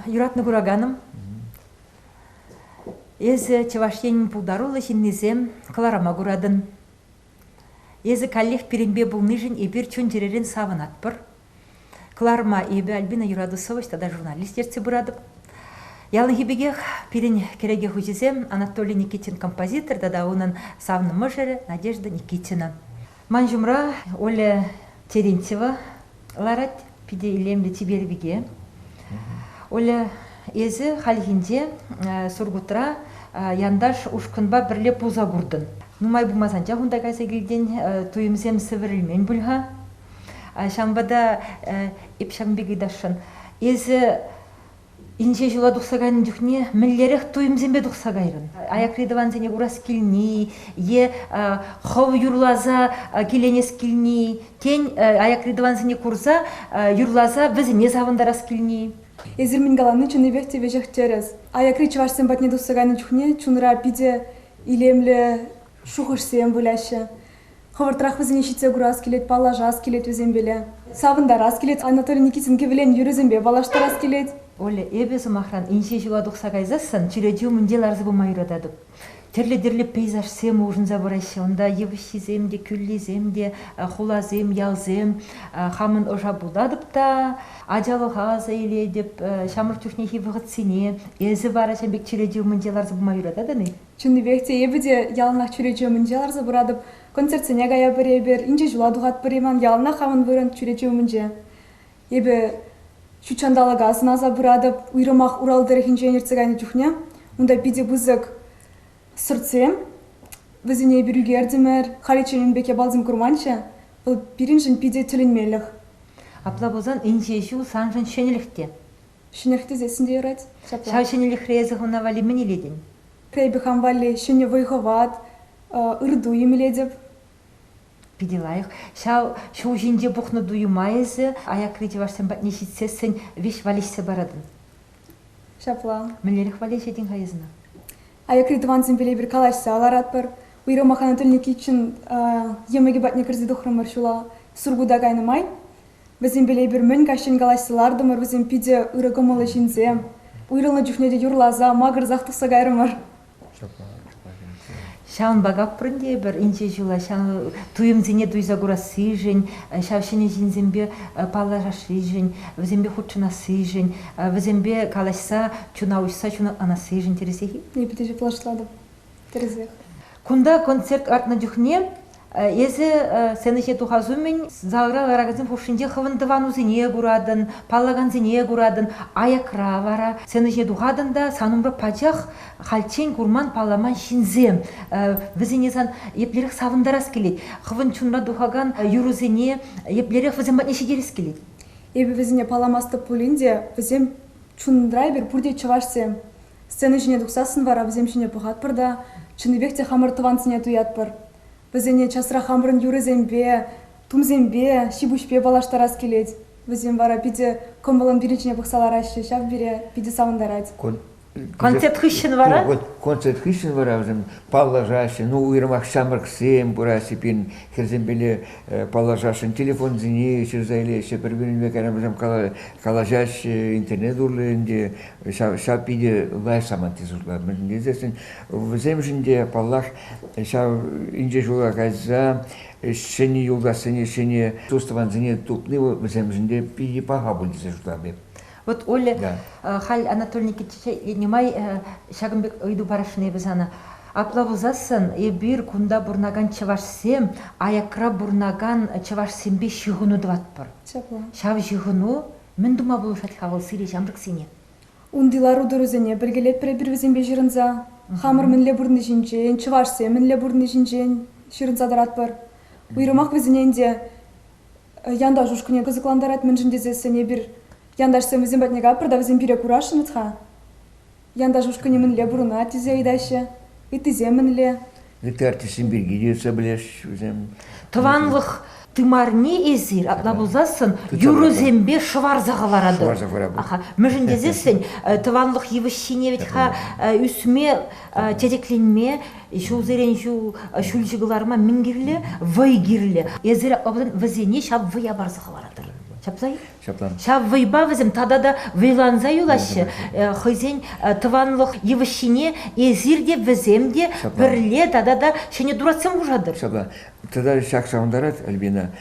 Юратнӑ кураканӑм, эсӗ Чӑваш Енӗн пултаруллӑ ҫыннисем кӑларӑма куратӑн. Эсӗ каллех пирӗнпе пулнишӗн эпир чун-чӗререн савӑнатпӑр. Кӑларӑма эпӗ Альбина Юратусович тата журналист ертсе пыратӑп. Яланхи пекех пирӗн кӗреке хуҫисем Анатолий Никитин композитор тата унӑн савнӑ мӑшӑрӗ Надежда Никитина. Ман ҫумра Оля Терентьева ларать, питӗ илемлӗ чипер пике. Оля, эсӗ хальхинче Сургутра янташ ушкӑнпа пӗрле пулса куртӑн. Нумай пулмасан чах унта кайса килтен туйӑмсем сӗвӗрӗлмен пуль-ха. Ҫавӑнпа та эп ҫакӑн пек ыйтасшӑн. Эсӗ Инҫе ҫула тухса кайнӑ чухне мӗнлерех туйӑмсемпе тухса кайрӑн? Аякри тӑвансене курас килни е хӑв юрласа киленес килни, тен, аякри тӑвансене курса юрласа вӗсене савӑнтарас килни. Эсир мӗн калани чӑннипех те веҫех тӗрӗс. Аякри чӑвашсем патне тухса кайнӑ чухне чунра питӗ илемлӗ шухӑшсем выляҫҫӗ. Хӑвӑртрах вӗсене ҫитсе курас килет, паллашас килет вӗсемпеле. Савӑнтарас килет, Анатолий Никитин кӗвӗлен юрӑсемпе паллаштарас килет. Оля, эпӗ, сӑмахран, инҫе ҫула тухса кайсассӑн чӳрече умӗнче ларса пыма юрататӑп. Тӗрлӗ-тӗрлӗ пейзажсем улшӑнса пыраҫҫӗ унта. Йывӑҫҫисем те, кӳллисем те, хуласем, ялсем. Хамӑн ӑша путатӑп та ачалӑха аса илетӗп. Ҫамрӑк чухнехи вӑхӑтсене. Эсӗ вара ҫавӑн пек чӳрече умӗнче ларса пыма юрататӑн-и? Чӑннипех те эпӗ те яланах чӳрече умӗнче ларса пыратӑп, концертсене каятпӑр эпир, инҫе ҫула тухатпӑр-и ман яланах хамӑн вырӑн чӳрече умӗнче. Эпӗ ҫут ҫанталӑка сӑнаса пыратӑп, уйрӑмах Урал тӑрӑхӗнчен иртсе кайнӑ чухне унта питӗ пысӑк сӑртсем, вӗсене эпир ӳкертӗмӗр, халиччен ун пек япаласем курманччӗ, вӑл пирӗншӗн питӗ тӗлӗнмелӗх. Апла пулсан инҫе ҫул саншӑн ҫӗнӗлӗх те. Ҫӗнех тӗсессӗн те ярать. Ҫапла. Ҫав ҫӗнӗлӗхре эсӗ хӑна валли мӗн илетӗн? Эпӗ хам валли ҫӗнӗ вӑй-хӑват, ырту имлетӗп. Питӗ лайӑх. Ҫав ҫул ҫинче пухнӑ туйӑма эсӗ аякри чӑвашсем патне ҫитсессӗн веҫ валеҫсе паратӑн. Ҫапла. Мӗнлерех валеҫетӗн-ха эсна? Аякри тӑвансемпеле эпир калаҫса ларатпӑр. Уйрӑмах ӑна тӗлне киччен йӑмӑкӗ патне кӗрсе тухрӑмӑр ҫула Сургута кайнӑ май. Вӗсемпеле эпир мӗн каҫчен калаҫса лартӑмӑр вӗсем питӗ ырӑ кӑмӑллӑ ҫынсем. Уйрӑлнӑ чухне те юрласа, макӑрсах тухса кайрӑмӑр. Ҫавӑнпа капрӑн тейӗпӗр инҫе ҫула ҫав туйӑмсене туйса курассишӗн, ҫав ҫӗнӗ ҫынсемпе паллашассишӗн, вӗсемпе хутшӑнассишӗн, вӗсемпе калаҫса чуна уҫса чуна ӑнассишӗн тӗрӗсех-и? Эпӗ те ҫаплашлатӑп тӗрӗсех. Кунта концерт лартнӑ чухне Эсӗ сцена ҫине тухас умӗн залра ларакансем хушшинче хӑвӑн тӑванусене куратӑн, паллакансене куратӑн, аякра вара сцена ҫине тухатӑн та сан умра пачах хальччен курман, палламан ҫынсем. Вӗсене сан еплерех савӑнтарас килет, хӑвӑн чунра тухакан юрӑсене еплерех вӗсем патне ҫитерес килет? Эпӗ вӗсене палламастӑп пулин те, вӗсем чунра эпир пурте чӑвашсем. Сцена ҫине тухсассӑн вара вӗсем ҫине пӑхатпӑр та чӑннипех те хамӑр тӑвансене туятпӑр. Вӗсене часрах хамӑрӑн юрӑсемпе, тумсемпе, ҫипуҫпе паллаштарас килет. Вӗсем вара питӗ кӑмӑллӑн пирӗн ҫине пӑхса лараҫҫӗ, ҫав пире питӗ савӑнтарать. Концерт хыҫҫӑн вара? Концерт хыҫҫӑн вара вӗсем паллашаҫҫӗ. Ну, уйрӑмах ҫамрӑксем пыраҫҫӗ пирӗн хӗрсемпеле паллашасшӑн. Телефонсене ҫырса илеҫҫӗ, пӗр-пӗринпе вӗсем калаҫаҫҫӗ, интернет урлӑ ӗнтӗ ҫав, ҫав питӗ лайӑх саманти шутла. Мӗн тесен вӗсемшӗн те, паллах, ҫав инҫе ҫула кайса ҫӗнӗ юлташсене, ҫӗнӗ тус-тӑвансене тупни вӗсемшӗн те питӗ паха пуль тесе шутлам эп. Вот Оля, да. Э, халь Анатолий Никитича нумай э, ҫакӑн пек ыйту парасшӑн эпӗ сана. Апла пулсассӑн эпир кунта пурӑнакан чӑвашсем аякра пурӑнакан чӑвашсемпе ҫыхӑну тӑватпӑр. Ҫав ҫыхӑну Мӗн тума пулӑшать-ха вӑл сире ҫамрӑксене? Унти лару-тӑрусене пӗркелетпӗр эпир вӗсемпе ҫырӑнса. Хамӑр мӗнле пурӑнни ҫинчен, чӑвашсем мӗнле пурӑнни ҫинчен ҫырӑнса тӑратпӑр. Уйрӑмах вӗсене ӗнтӗ янташ ушкӑнӗ кӑсӑклантарать, мӗншӗн тесессӗн эпир янташсем вӗсем патне каппӑр та вӗсем пире курасшӑнӑц-ха. Янташ ушкӑнӗ мӗнле пурӑнать тесе ыйтаҫҫӗ. Ыттисем мӗнле? Ытти артистсем пирки те ӳссе пӗлесчӗ вӗсем. Тӑванлӑх тымарне эсир апла пулсассӑн юрӑсемпе шӑварса хӑваратӑр. Шӑварса хӑваратӑр. Мӗншӗн тесессӗн тӑванлӑх йывӑҫҫине вӗт-ха ӳсме, телекленме, ҫулсерен ҫул ҫӳлҫӗ кӑларма мӗн кирлӗ? Вӑй кирлӗ. Эсир вӗсене ҫав вӑя парса хӑваратӑр. Ҫапса-и? Ҫаплан. Ҫав вӑйпа вӗсем тата та вӑйланса юлаҫҫӗ. Э, хӑйсен э, тӑванлӑх йывӑҫҫине эсир те, вӗсем те пӗрле тата та ҫӗнӗ туратсем хушатӑр. Ҫапла. Тата ҫак савӑнтарать Альбина.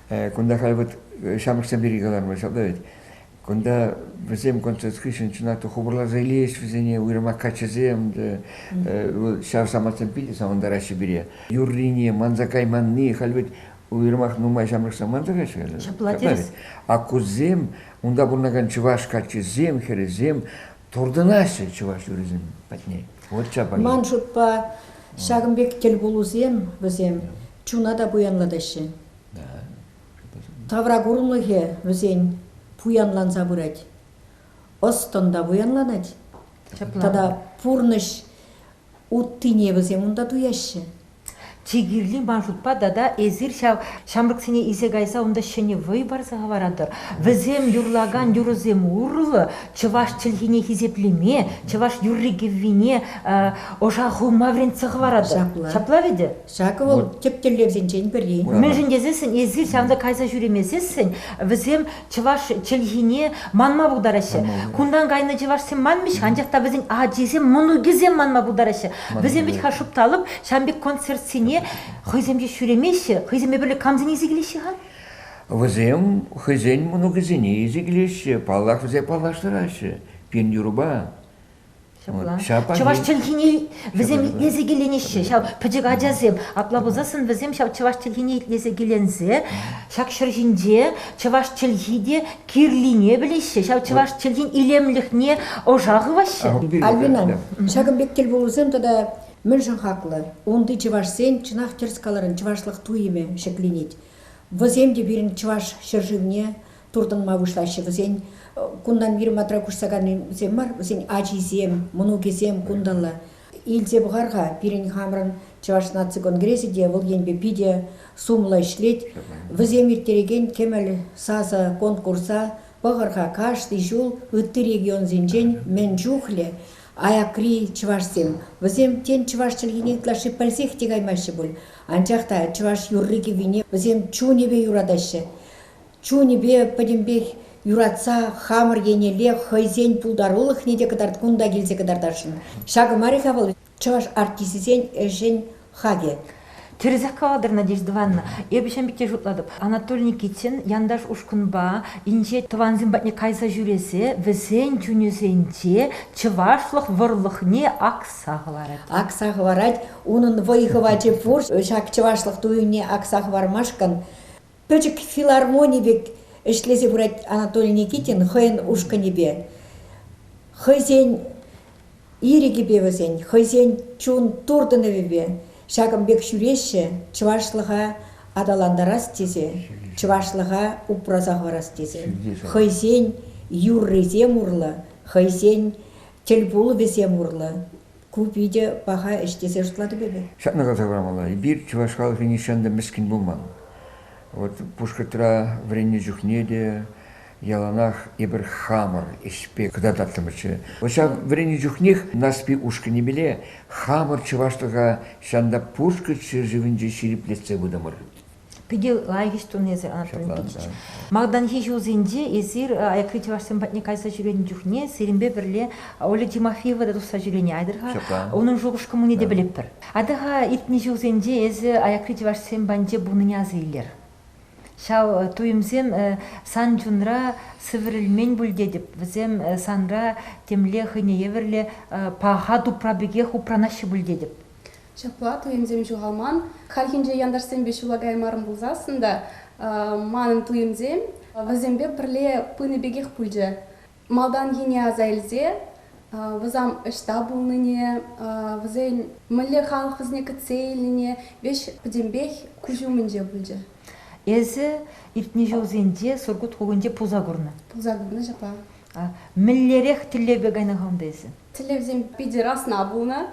Э, кунта халь вот ҫамрӑксем пирки калармӑр, ҫапла вӗт. Кунта вӗсем концерт хыҫҫӑн чӑнах та хупӑрласа илейҫ вӗсене уйрӑмах каччӑсем. Ҫав самантсем питӗ савӑнтараҫҫӗ пире. Юррине манса кайманни, халь вӗт Уйрӑмах нумай ҫамрӑк самантра-ши это? Ҫапла терӗс. Аккусем, унта пурӑнакан чӑваш каччисем, хӗрӗсем туртӑнаҫҫӗ чӑваш юррисем патне. Вот чапай. Ман шутпа, ҫакӑн пек тӗлпулусем вӗсем чуна та пуянлатаҫҫӗ. Тавра курӑмлӑхӗ вӗсен пуянланса пырать. Ӑс-тӑн та пуянланать. Тата пурнӑҫ уттине вӗсем унта туяҫҫӗ. чи кирли маршрутпа тата эсир ҫав ҫамрӑксене илсе кайса унта ҫӗнӗ вӑй парса хӑваратӑр. Вӗсем юрлакан юрӑсем урлӑ чӑваш чӗлхине хисеплеме, чӑваш юрри-кӗввине ӑша хывма вӗрентсе хӑваратӑр. Ҫапла. Ҫапла вӗтӗ? Ҫакӑ вӑл тӗп тӗллевсенчен пӗри. Мӗншӗн тесессӗн эсир ҫавӑнта кайса ҫӳремесессӗн вӗсем чӑваш чӗлхине манма пултараҫҫӗ. Кунтан кайнӑ чӑвашсем манмӗҫ, анчах та вӗсен ачисем, мӑнукӗсем манма пултараҫҫӗ. Вӗсем вӗт-ха шупталӑп, ҫан пек концертсене хӑйсем те ҫӳремеҫҫӗ, хӑйсемпе пӗрле камсене илсе килеҫҫӗ-ха? Вӗсем хӑйсен мӑнукӗсене илсе килеҫҫӗ, паллах, вӗсем паллаштараҫҫӗ пин юрӑпа. Ҫапах чӑваш чӗлхине вӗсем итлесе киленеҫҫӗ. Ҫав пӗчӗк ачасем апла пулсассӑн вӗсем ҫав чӑваш чӗлхине итлесе киленсе ҫак ҫӗр ҫинче чӑваш чӗлхи те кирлине пӗлеҫҫӗ. Ҫав чӑваш чӗлхин илемлӗхне ӑша хываҫҫӗ. Альбина, ҫакӑн пек тӗл пулусем тата мӗншӗн хаклӑ? Унти чӑвашсен чӑнах тӗрӗс каларӑн чӑвашлӑх туйӑмӗ ҫӗкленет. Вӗсем те пирӗн чӑваш ҫӗршывне туртӑнма пуҫлаҫҫӗ вӗсен. Кунтан вирматра куҫса кайнисем мар, вӗсен ачисем, мӑнукӗсем кунтанла. Илсе пӑхар-ха, пирӗн хамӑрӑн Чӑваш наци конгресӗ те вӑл енпе питӗ сумлӑ ӗҫлет. Вӗсем ирттерекен кӗмӗл сасӑ конкурса пӑхӑр-ха кашни ҫул ытти регионсенчен мӗн чухлӗ аякри чӑвашсем. Вӗсем тен чӑваш чӗлхине ытлашши пӗлсех те каймаҫҫӗ пуль, анчах та чӑваш юрри-кӗввине вӗсем чунӗпе юратаҫҫӗ. чунӗпе пӗтӗмпех юратса хамӑр еннелле хӑйсен пултарулӑхне те кӑтарт кунта килсе кӑтартасшӑн. Ҫакӑ мар-и-ха вӑл чӑваш артисчӗсен ӗҫӗн хакӗ? Тӗрӗсех калатӑр, Надежда Ивановна. Эпӗ ҫын пекки шутлатӑп. Анатолий Никитин янташ ушкӑнпа инҫет тӑвансем патне кайса ҫӳресе вӗсен чунӗсенче чӑвашлӑх вӑрлӑхне акса хӑварать. Акса хӑварать. Унӑн вӑй-хӑвачӗ пур ҫак чӑвашлӑх туйӑмне акса хӑвармашкӑн. Пӗчӗк филармони пек ӗҫлесе пырать Анатолий Никитин хӑйӗн ушкӑнӗпе. Хӑйсен ирӗкӗпе вӗсен, хӑйсен чун туртӑнӑвӗпе ҫакӑн пек ҫӳреҫҫӗ чӑвашлӑха аталантарас тесе, чӑвашлӑха упраса хӑварас тесе. Хӑйсен юррисем урлӑ, хӑйсен тӗлпулӑвӗсем урлӑ Ку питӗ паха ӗҫ тесе шутлатӑп эпӗ. Ҫакна каласа памалла, эпир чӑваш халӑхӗ нихҫан та мӗскӗн пулман. Вӑт Пушкӑртра вӗреннӗ чухне те яланах эпир хамӑр ӗҫпе кӑтартаттӑмӑрччӗ. Ҫав вӗреннӗ чухнех Нарспи ушкӑнӗпеле хамӑр чӑвашлӑха ҫан та Пушкӑрт ҫӗршывӗнче ҫирӗплетсе пытӑмӑр. Питӗ лайӑх ӗҫ тунӑ эсир, Анатолий Никитич. Малтанхи ҫулсенче эсир аякри чӑвашсем патне кайса ҫӳренӗ чухне сирӗнпе пӗрле Оля Тимофеева та тухса ҫӳренӗ айтӑр-ха. Унӑн шухӑш-кӑмӑлне те пӗлӗпӗр. Атӑ-ха, иртнӗ ҫулсенче эсӗ аякри чӑвашсем патӗнче пулнине аса илер. Ҫав туйӑмсем сан чунра сӗвӗрӗлмен пуль тетӗп. Вӗсем санра темле хӑйне евӗрлӗ паха тупра пекех упранаҫҫӗ пуль тетӗп. Ҫапла туйӑмсем ҫухалман. Хальхинче янташсемпе ҫула каймарӑм пулсассӑн та манӑн туйӑмсем вӗсемпе пӗрле пынӑ пекех пулчӗ. Малтанхине аса илсе вӑсам ӑҫта пулнине, вӗсен мӗнле халӑх вӗсене кӗтсе илнине веҫ пӗтӗмпех куҫ умӗнче пулчӗ. Эсӗ иртнӗ ҫулсенче Сургут хулинче пулса курнӑ. Пулса курнӑ ҫапла. Мӗнлерех тӗллевпе кайнӑ хунта эсӗ? Тӗллевсем питӗ расна пулнӑ.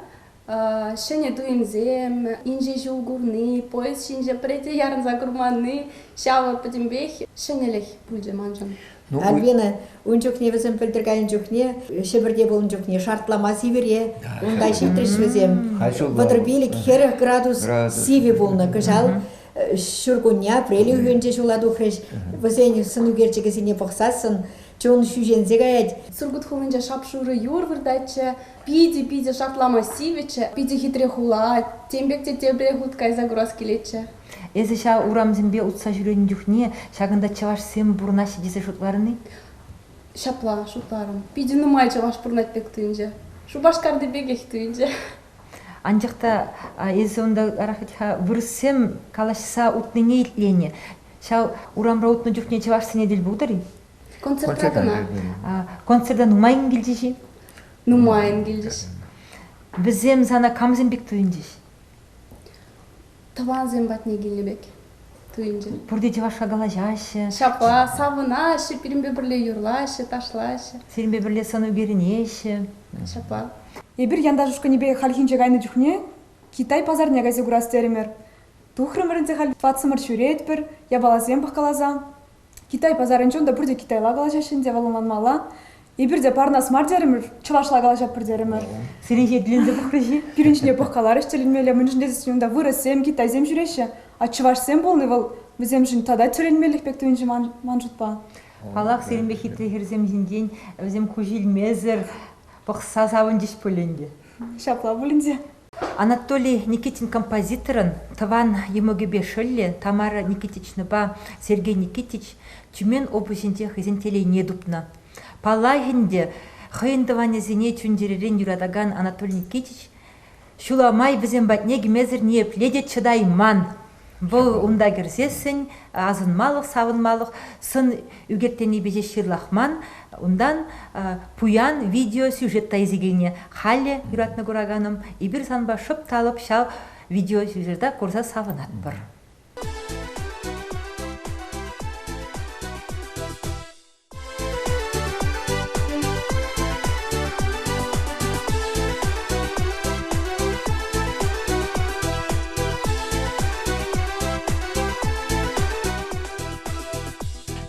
ҫӗнӗ туйӑмсем, инҫе ҫул курни, поезд ҫинче пӗрете ярӑнса курманни, ҫавӑ пӗтӗмпех ҫӗнӗлӗх пулчӗ маншӑн. Ну, Албина ун чухне вӗсем пӗлтӗр кайнӑ чухне Ҫӗпӗрте пулнӑ чухне шартлама сивӗре унта ҫитрӗҫ вӗсем. Пӑтӑрпилӗк хӗрӗх градус сивӗ пулнӑ кӑҫал. Ҫуркунне апрель уйӑхӗнче ҫула тухрӗҫ. Вӗсен сӑнӳкерчӗкӗсене пӑхсассӑн чун ҫӳҫенсе каять. Сургут хулинче шап-шурӑ юр выртатчӗ. Питӗ-питӗ шартлама сивӗччӗ, питӗ хитре хула, тем пек те тепре хут кайса курас килетчӗ. Эсӗ ҫав урамсемпе утса ҫӳренӗ чухне ҫакӑнта чӑвашсем пурӑнаҫҫӗ тесе шутларӑн-и? Ҫапла шутларӑм. Питӗ нумай чӑваш пурӑнать пек туйӑнчӗ. Шупашкарти пекех туйӑнчӗ. Анчах та эсӗ унта ытларах вӗт-ха вырӑссем калаҫса утнине итленӗ. Ҫав урамра утнӑ чухне чӑвашсене тӗл пултӑр-и? Концерта кӑна. Концерта нумаййӑн килчӗҫ-и? Нумаййӑн килчӗҫ. Вӗсем сана камсем пек туйӑнчӗҫ? Тӑвансем патне килнӗ пек туйӑнчӗ. Пурте чӑвашла калаҫаҫҫӗ. Ҫапла, савӑнаҫҫӗ, пирӗнпе пӗрле юрлаҫҫӗ, ташлаҫҫӗ. Сирӗнпе пӗрле сӑну кӳренеҫҫӗ. Ҫапла. Эпир янташ ушкӑнӗпе хальхинче кайнӑ чухне Китай пасарне кайса курас терӗмӗр. Тухрӑмӑр ӗнтӗ халь, патсӑмӑр ҫӳретпӗр, япаласем пӑхкаласа. Китай пасарӗнче унта пурте китайла калаҫаҫҫӗ ӗнтӗ, вӑл ӑнланмалла. Эпир те парӑнас мар терӗмӗр, чӑвашла калаҫатпӑр терӗмӗр. Сирӗнхи тӗлӗнсе пӑхрӗҫ-и? Пирӗн ҫине пӑхкаларӗҫ тӗлӗнмелле, мӗншӗн тесен унта вырӑссем, китайсем ҫӳреҫҫӗ. А чӑвашсем пулни вӑл вӗсемшӗн тата тӗлӗнмеллех пек туйӑнчӗ ман, ман шутпа. Паллах, сирӗнпе хитре хӗрсем ҫинчен вӗсем куҫ илмесӗр пӑхса савӑнчӗҫ пуль ӗнтӗ. Ҫапла пулин те. Анатолий Никитин композиторӑн тӑван йӑмӑкӗпе шӑллӗ Тамара Никитичнӑпа Сергей Никитич Тюмень облаҫӗнче хӑйсен телейне тупнӑ. Паллах ӗнтӗ, хӑйӗн тӑванӗсене чун-чӗререн юратакан Анатолий Никитич ҫула май вӗсем патне кӗмесӗр ниепле те чӑтайман. Вӑл унта кӗрсессӗн асӑнмалӑх-савӑнмалӑх сӑн ӳкертенипе ҫеҫ ҫырлахман, унтан пуян видеосюжет та изӗкене халӗ юратнӑ кураканӑм эпир санпа шӑп та лӑп ҫав видеосюжета курса савӑнатпӑр.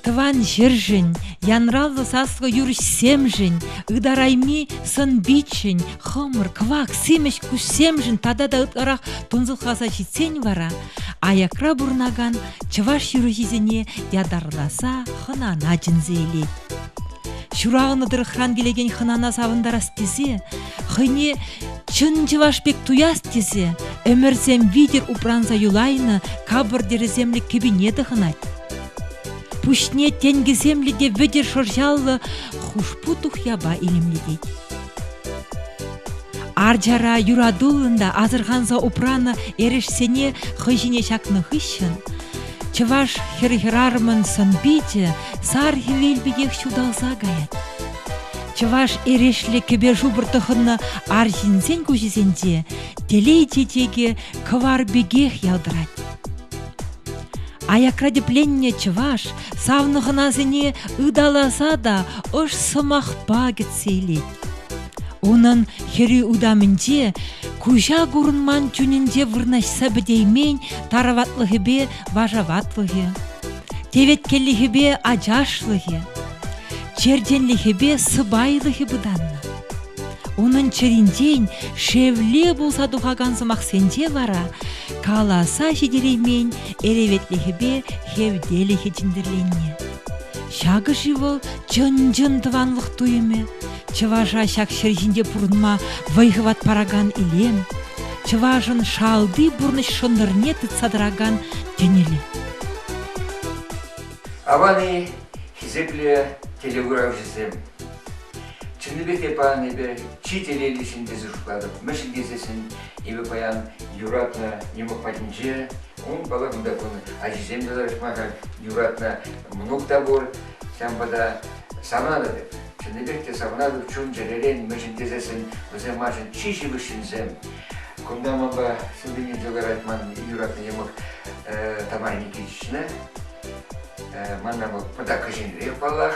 Тӑван ҫӗршӗн, янраллӑ саслӑ юрӑҫсемшӗн, ытарайми сӑн-питшӗн, хӑмӑр, кӑвак, симӗс куҫсемшӗн тата та ытларах тунсӑхласа ҫитсен вара аякра пурӑнакан чӑваш ҫыруҫисене ятарласа хӑнана чӗнсе илет. Ҫуралнӑ тӑрӑхран килекен хӑнана савӑнтарас тесе хӑйне чӑн чӑваш пек туяс тесе ӗмӗрсем витӗр упранса юлайнӑ капӑртӗрӗсемлӗ кӗпине тӑхӑнать. Пуҫне тенкӗсемлӗ те вӗтӗр шӑрҫаллӑ хушпу тухьяпа илемлетет. Арчара юратуллӑн та асӑрханса упранӑ эрешсене хӑй ҫине ҫакнӑ хыҫҫӑн чӑваш хӗр хӗрарӑмӑн сӑн-пичӗ сар хӗвел пекех ҫуталса каять. Чӑваш эрешлӗ кӗпе-шупӑр тӑхӑннӑ арҫынсен куҫӗсенче телей чечекӗ кӑвар пекех ялтӑрать. Аякра тӗпленнӗ чӑваш савнӑ хӑнасене ыталаса та ӑш сӑмахпа кӗтсе илет. Унӑн хӗрӳ утамӗнче куҫа курӑнман чунӗнче вырнаҫса пӗтеймен тараватлӑхӗпе вашаватлӑхӗ, теветкеллӗхӗпе ачашлӑхӗ, черченлӗхӗпе сӑпайлӑхӗ пытаннӑ. Унӑн чӗринчен шевле пулса тухакан сӑмахсенче вара каласа ҫитереймен эреветлӗхӗпе хевтелӗхӗ чӗнтӗрленнӗ. Ҫакӑ-ши вӑл чӑн-чӑн тӑванлӑх туйӑмӗ? Чӑваша ҫак ҫӗр ҫинче пурӑнма вӑй-хӑват паракан илем, чӑвашӑн шалти пурнӑҫ шӑнтӑрне тытса тӑракан тӗнӗлӗ. Аван-и хисеплӗ телекуравҫӑсем? Чӑннипе те паян эпӗ чи телейлӗ ҫын тесе шутлатӑп, мӗншӗн тесессӗн эпӗ паян юратнӑ нема патӗнче Ун палӑкне та кунӑ, ачисем те тӑрӑшма-ха юратнӑ, мӑнук та пур. Ҫавӑнпа та савнатӑп. Чӑннипех те савнатӑп чун-чӗререн мӗншӗн тесессӗн вӗсем маншӑн чи ҫывӑх ҫынсем. Кунта манпа сывлени тӑкарать ман юратнӑ йӑмӑк Тамара Никитична. Манна вӑл пӑта кӗҫӗнрех паллах,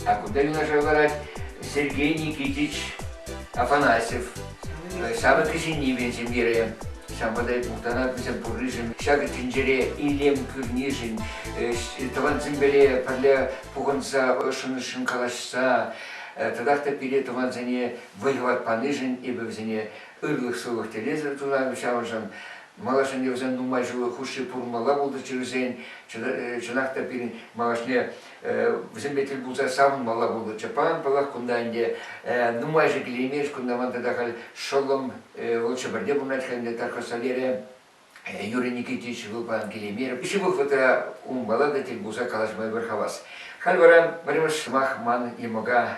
а кунта юнашар ларать Сергей Никитич Афанасьев. Савӑт кӗҫӗннипе ҫемьере ҫавӑнпа та мухтанатнисем пурришӗн, ҫакӑ тӗнчере илем кӳрнишӗн, тӑвансемпеле пӗрле пухӑнса ӑшшӑн-ӑшшӑн калаҫса татах та пире тӑвансене вӑй-хӑват панишӗн эпӗ вӗсене ырлӑх-сывлӑх телейсӗр тунам, ҫавӑншӑн малашне вӗсен нумай ҫул хушши пурӑнмалла пултӑрччӗ вӗсен. Чӑнах та пирӗн малашне вӗсемпе тӗл пулса савӑнмалла пултӑрччӗ. Паян, паллах, кунта ӗнтӗ нумайӑшӗ килеймест. Кунта ман тата халь шӑллӑм, вӑл Чӗпӗрте пурӑнать ӗнтӗ, такой Соляре. Юрий Никитич вӑл паян килеймерӗ. Ҫывӑх вӑхӑтра унпала та тӗл пулса калаҫма ӗмӗр хавас. Халь вара пӗрремӗш сӑмах ман йӑмӑка.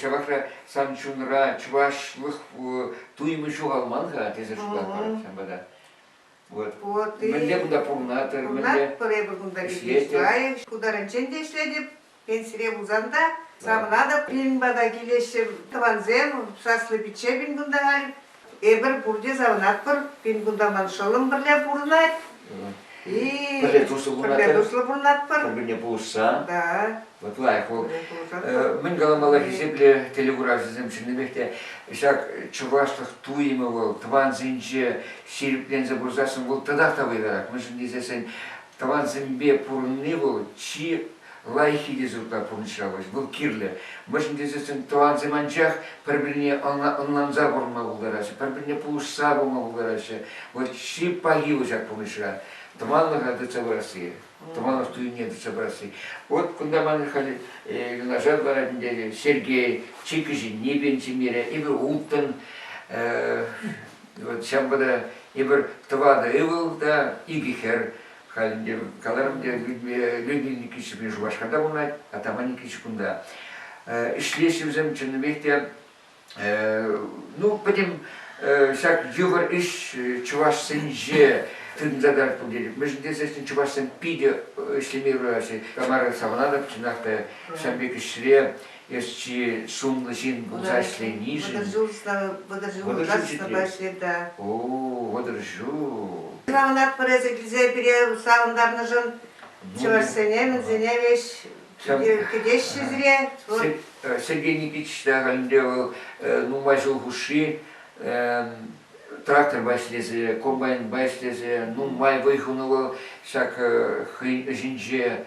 Ҫавахра сан чунра чӑвашлӑх туйӑмӗ ҫухалман-ха тесе шутлатпӑр ҫав пата. Вот. Вот и мӗнле кунта пурӑнатӑр, пурӑнатпӑр эпӗ кунта Ишляев шкултарӗнчен те ӗҫлетӗп, пенсире пулсан та. Савӑнатӑп, пирӗн пата килеҫҫӗ тӑвансем, саслӑ пичче пин кунта халь. Эпир пурте савӑнатпӑр, пин-кунта ман шӑллӑм пӗрле пурӑнать. И пӗрле туслӑ пурӑнатпӑр. Пӗрле туслӑ пурӑнатпӑр. Пӗр-пӗрне пулӑшса. Да. Вот лайк. Мӗн каламалла хисеплӗ телекуравҫӑсем чӑннипех те ҫак чӑвашлӑх туйӑмӗ вӑл тӑвансенче ҫирӗпленсе пырсассӑн вӑл татах та вӑйлӑрах мӗншӗн тесессӗн тӑвансемпе пурӑнни вӑл чи Лайӑххи те зуркла пурнӑҫлавӑш, вӑл кирлӗ. Мӗншӗн тесессӗн тӑвансем анчах пӗр-пӗрне ӑнланса пурӑнма пултараҫҫӗ, пӗр-пӗрне пулӑшса пыма пултараҫҫӗ. Вот чи пахи вӑл ҫак пурнӑҫра, тӑванлӑха тытса пырасси, тӑванлӑх туйне тытса пырасси. Вот кунта ман халь юнашар ларать ӗнтӗ Сергей, чи кӗҫӗнни пенсионере, эпир улттӑн. Вот ҫавӑнпа та эпир тӑватӑ ывӑл та икӗ хӗр. Халь Леонид Никитич Ҫӗпрен Шупашкарта пурӑнать, Атаман Никитич кунта. Ӗҫлеҫҫӗ вӗсем чӑннипех те. Ну, пӗтӗм ҫак йывӑр ӗҫ чӑвашсенче тытӑнса тӑратпӑр тетӗп. Мӗншӗн тесен чӑвашсем питӗ ӗҫлеме юраҫҫӗ. Тамара Савананов чӑнах та ҫав пек ӗҫре Ӗҫчи, сумлӑ ҫын пулса ӗҫленишӗн. Вӑтӑрҫу учительница. О, вӑтӑрҫу. Савӑнатпӑр эсӗ килсе пире савӑнтарнӑшӑн. Чӑвашсене, мӗнсене веҫ кӗтеҫҫӗ сире? Сергей Никитич та халӗнпе вӑл нумай ҫул хушши тракторпа ӗҫлесе, комбайнпа ӗҫлесе нумай вӑй хунӑ вӑл ҫак хӑйӗн ӗҫӗнче.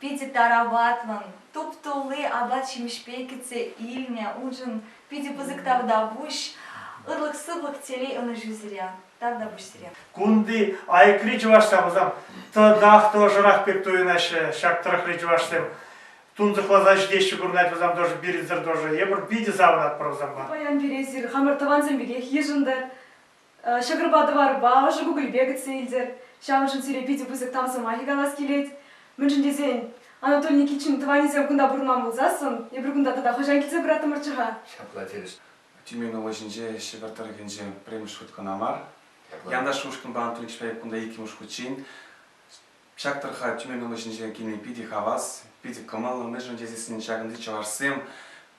Питӗ тараватлӑн, туп-тулли апат-ҫимӗҫпе кӗтсе илнӗ уншӑн питӗ пысӑк тавтапуҫ, ырлӑх-сывлӑх, телей ӑнӑҫу сире, тавтапуҫ сире. Кунти айӑкри чӑвашсем Хусан тӑтах тӑвӑшрах пек туйӑнаҫҫӗ ҫак тӑрӑхри чӑвашсем. Тунсӑхласа ҫитеҫҫӗ курӑнать вӗсем тоже пирӗнсӗр тоже. Эпир питӗ савӑнатпӑр вӗсемпе. Паян пире эсир хамӑр тӑвансем пекех йышӑнтӑр, Ҫӑкӑрпа тӑварпа ӑшӑ кукӑльпе кӗтсе илтӗр. Ҫавӑншӑн сире питӗ пысӑк тав сӑмахӗ калас килет. Мӗншӗн тесен Анатолий Никитчин тӑванӗсем кунта пурӑнман пулсассӑн эпир кунта тата хӑҫан килсе кураттӑмӑрччӗ-ха? Ҫапла терӗҫ Тюмень облаҫӗнче Ҫӗпӗр тӑрӑхӗнче пӗрремӗш хут кӑна мар. Янаш ушкӑнпа Анатолий Кичпаев кунта иккӗмӗш хутчен. Ҫак тӑрӑха Тюмень облаҫӗнчен килни питӗ хавас, питӗ кӑмӑллӑ. Мӗншӗн тесессӗн ҫакӑнти чӑвашсем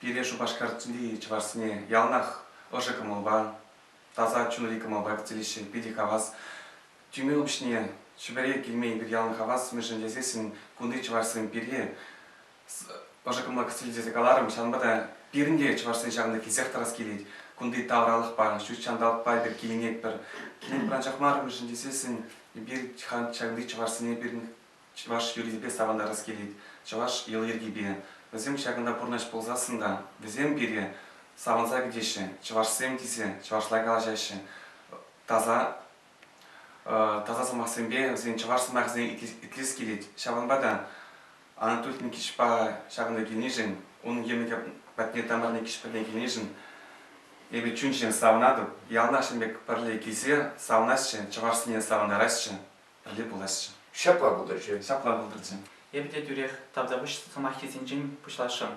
пире Шупашкарти чӑвашсене яланах ӑшӑ кӑмӑлпа, таса чунри кӑмӑлпа тӗлӗҫшӗн питӗ хавас. Тюмень упҫне Чӗпӗре килмен пек ялан хавас, мӗншӗн тесессӗн кунти чӑвашсем пирки ӑшӑ кӑмӑла кӗтсен тесе каларӑм. Ҫавӑнпа та пирӗн те чӑвашсен ҫавӑнта килсех тӑрас килет. Кунти тавралӑхпа, ҫут ҫанталӑкпа эпир киленетпӗр. Килен пӑранчах мар, мӗншӗн тесессӗн эпир ҫакӑнти чӑвашсене пирӗн чӑваш юррисемпе савӑнтарас килет чӑваш йӑли-йӗркипе. Вӗсем ҫакӑнта пурнӑҫ пулсассӑн та вӗсем пире савӑнса кӗтеҫҫӗ, чӑвашсем тесе чӑвашла калаҫаҫҫӗ. Таса таса сӑмахсемпе вӗсен чӑваш сӑмахӗсене итлес килет. Ҫавӑнпа та Анатолий Никитичпа ҫакӑнта килнишӗн, унӑн йӗмӗкӗ патне Тамара Никитич патне килнишӗн эпӗ чун-чӗнем савӑнатӑп. Яланах ҫын пек пӗрле килсе савӑнасчӗ, чӑвашсене савӑнтарасчӗ. пӗлӳ пуласчӗ. Ҫапла пултӑрччӗ, ҫапла пултӑрччӗ. Эпӗ те тӳрех тавтапуҫ сӑмаххисенчен пуҫласшӑн.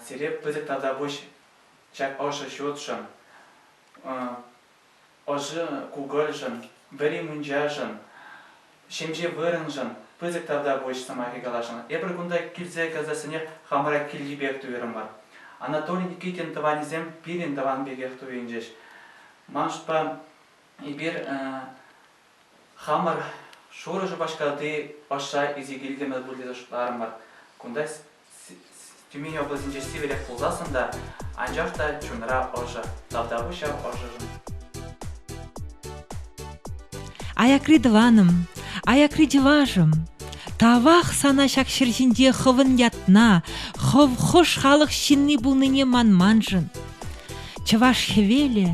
Сире пысӑк тавтапуҫ ҫак ӑшӑ ҫуртшӑн, ӑшӑ кукӑльшӑн, вӗри мунчашӑн, ҫемҫе вырӑншӑн пысӑк тавтапуҫ сӑмахӗ каласшӑн. Эпир кунта килсе каласассине хамӑра килти пек туйрӑмӑр. Анатолий Никитин тӑванӗсем пирӗн тӑван пекех туйӑнчӗҫ. Маншӑнпа эпир Хамӑр шурӑ Шупашкарти Пашша Исекилккемӗр пур тесе шутларӑмӑр. Кунта Тюмень облаҫӗнче сивӗрех пулсассӑн та, анчах та чунра ӑшӑ, тавтапуҫ ҫав ӑшӑшӑн. Аякри тӑванӑм, аякри чӑвашӑм, тавах сана ҫак ҫӗр ҫинче хӑвӑн ятна, хӑв хӑш халӑх ҫынни пулнине манманшӑн. Чӑваш хӗвелӗ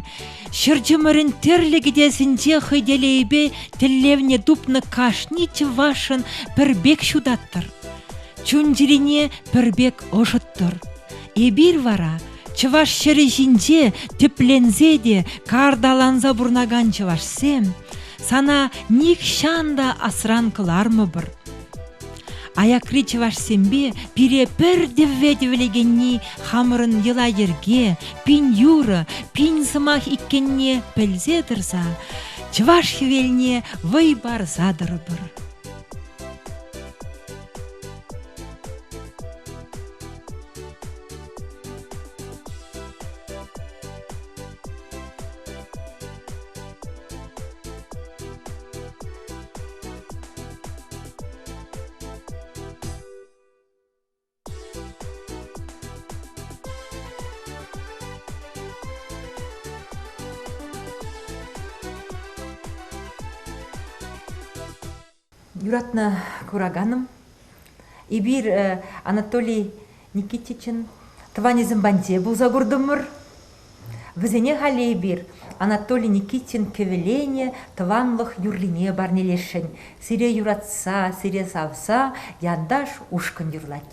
ҫӗр чӑмӑрӗн тӗрлӗ кӗтесӗнче хӑй телейӗпе тӗллевне тупнӑ кашни чӑвашӑн пӗр пек ҫутаттӑр, чун-чӗрине пӗр пек ӑшӑттӑр. Эпир вара чӑваш ҫӗрӗ ҫинче тӗпленсе те карталанса пурӑнакан чӑвашсем сана нихҫан та асран кӑлармӑпӑр. Аякри чӑвашсемпе пире пӗр тӗвве тӗвӗлекенни хамӑрӑн йӑла-йӗрке, пин юрӑ, пин сӑмах иккенне пӗлсе тӑрса чӑваш хӗвелне вӑй парса тӑрӑпӑр. юратнӑ кураканӑм эпир анатолий Никитичӑн тӑванӗсем патне пулса куртӑмӑр. Вӗсене халь эпир Анатолий Никитин кӗвӗленӗ тӑванлӑх юррине парнелесшӗн. Сире юратса, сире савса Янташ ушкӑн юрлать.